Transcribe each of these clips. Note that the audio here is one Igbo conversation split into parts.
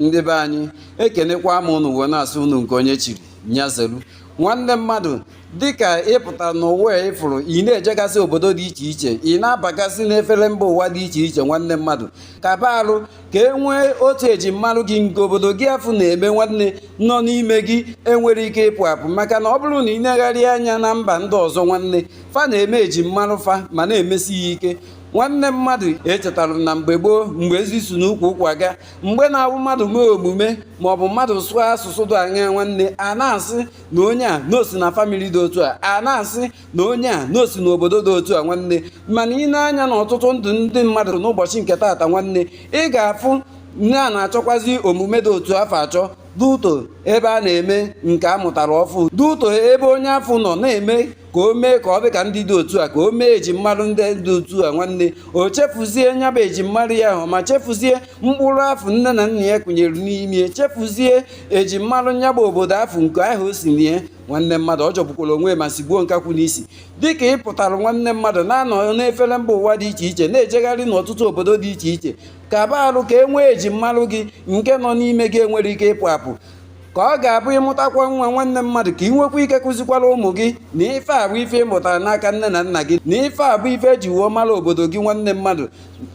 ndị be anyị ekenekwa m unu wee na-asị unu nke onye chiri nya zeru nwanne mmadụ dịka ị pụta n'ụwa a ị fụrụ ị na-ejegasị obodo dị iche iche ị na-abagasị n'efere mba ụwa dị iche iche nwanne mmadụ kaba arụ ka e nwee otu ejimmarụ gị nke obodo gị afụ na-eme nwanne nọ n'ime gị enwere ike ịpụ apụ maka na ọ bụrụ na ị negharị anya na mba ndị ọzọ nwanne fa na-eme ejimmarụ fa ma na-emesi ya ike nwanne mmadụ echetara m na mgbe gboo mgbe ezi si n'ukwu ụkwa ga mgbe na-abụ mmadụ mee omume ma ọ bụ mmadụ sụọ asụsụ dị anya nwanne a na-asị na onye a na o si na family dị otu a a na-asị na onye a na o si n'obodo dị otu a nwanne mana ị nee anya na ọtụtụ ndụ ndị mmadụ n'ụbọchị nke taata nwanne ị ga-afụ na a na-achọkwazi omume dị otu afụ achọ due to ebe a na-eme nke a mụtara ọfụụ due to ebe onye afụ nọ na-eme ka o mee ka ọ dị ka ndị dị otu a ka o mee ejimmarụ ndị dị otu a nwanne o chefuzie nya bụ ejimmarụ ya ahụ ma chefuzie mkpụrụ afụ nne na nna ya kụnyere n'ime chefuzie ejimmarụ nya bụ obodo afụ nke ahụ o si na ya nwanne mmadụ ọ jọgbukwara onwe ma sigbuo nkakwu n'isi dịka ị pụtara nwanne mmadụ na-anọ n'efere mba ụwa dị iche iche na-ejegharị n'ọtụtụ obodo dị iche iche kaba arụ ka e nwee ejimmarụ gị nke nọ n'ime gị enwere ike ịpụ apụ ka ọ ga-abụ ị mụtakwa nwa nwanne mmadụ ka ị nwekwa ike kụzikwara ụmụ gị na ife a bụ ife ị mụtara n'aka nne na nna gị na ife a bụ ife eji wee mara obodo gị nwanne mmadụ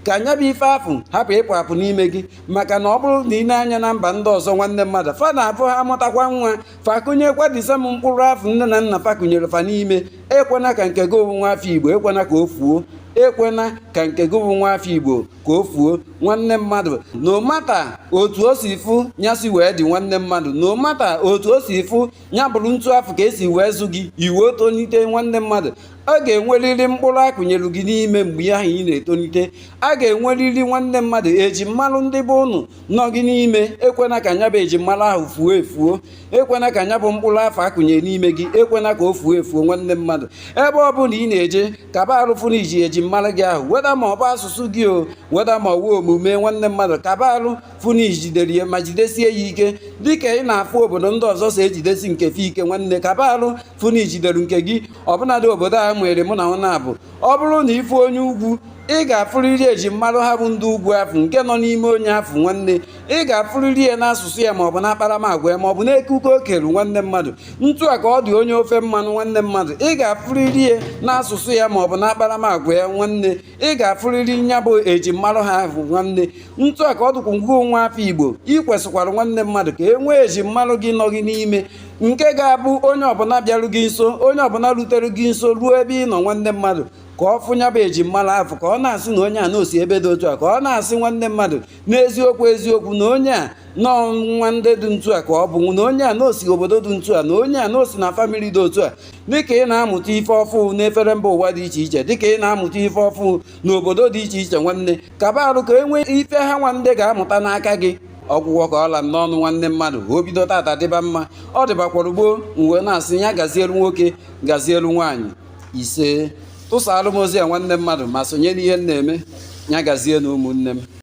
ka nya bụ ife afụ hapụ ịpụ apụ n'ime gị maka na ọ bụrụ na ị nee anya na mba ndị ọzọ nwanne mmadụ fa na-abụ ha mụtakwa nwa fa akụnyekwa the same mkpụrụ afụ nne na nna fa kụnyere fa n'ime ekwena ka nke gị bụ nwa afọ igbo ekwena ka o fuo ekwena ka nke gị bụ nwa afọ igbo ka o fuo nwanne mmadụ no matter otu o si fụ ya si wee dị nwanne mmadụ no matter otu o si fụ ya bụrụ ntu afụ ka e si wee zụ gị i wee tonite nwanne mmadụ a ga-enwerịrị mkpụrụ a kụnyelu gị n'ime mgbe ahụ ị na-etonite a ga-enwerịrị nwanne mmadụ ejimmalụ ndị be ụnụ nọ gị n'ime ekwena ka nya bụ ejimmalụ ahụ fuo efuo ekwena ka nya bụ mkpụrụ afụ a kụnye n'ime gị ekwena ka o fuo efuo nwanne mmadụ ebe ọ bụla ị na-eje kaba arụ fụ na i ji ejimmarụ gị ahụ whether ma ọ bụ asụsụ gị o whether ma ọ wụ omume nwanne mmadụ kaba arụ fụ na i jidere ya ma jidesie ya ike dịka ị na-afụ obodo ndị ọzọ si ejidesi nke fa ike nwanne kaba arụ fụ na i jidere nke gị ọbụnadị obodo a nwere mụ na ọ na-abụ ọ bụrụ na ị fụ onye ugwu ị ga-afụrịrị ejimmarụ ha bụ ndị ugwu afụ nke nọ n'ime onye afụ nwanne ị ga-afụrịrị ya n'asụsụ ya maọbụ na akparamagwa ya maọbụ n'ekike o kere nwanne mmadụ ntu a ka ọ dị onye ofe mmanụ nwanne mmadụ ị ga-afụrịrị ya n'asụsụ ya maọbụ na akparamagwa ya nwanne ị ga-afụrịrị nya bụ ejimmarụ ha ahụ nwanne ntu a ka ọ dịkwa ngwa nwa afọ igbo ị kwesịkwara nwanne mmadụ ka e nwee ejimmarụ gị nọ gị n'ime nke ga-abụ onye ọbụla bịaru gị nso onye ọbụla rutere gị nso ruo ebe ị nọ nwanne mmadụ ka ọ fụ nya bụ ejimmarụ afụ ka ọ na-asị na onye a na o si ebe dị otu a ka ọ na-asị nwanne mmadụ n'eziokwu eziokwu na onye a nwa ndị dị ntu a ka ọ bụ na onye a na o si obodo dị ntu a na onye a na o si na famili dị otu a dịka ị na-amụta ife ọfụụ n'efere mba ụwa dị iche iche dịka ị na-amụta ife ọfụụ n'obodo dị iche iche nwanne kaba arụ ka e nwee ife ha nwa ndị ga-amụta n'aka gị ọ gwụgwo ka ọ la m n'ọnụ nwanne mmadụ o bido tata dịba mma ọ dịbakwara gboo m wee na-asị ya gazielu nwoke gazielu nwaanyị isee tụsaalụ m ozi a nwanne mmadụ ma sonye n'ihe m na-eme ya gazie na ụmụnne m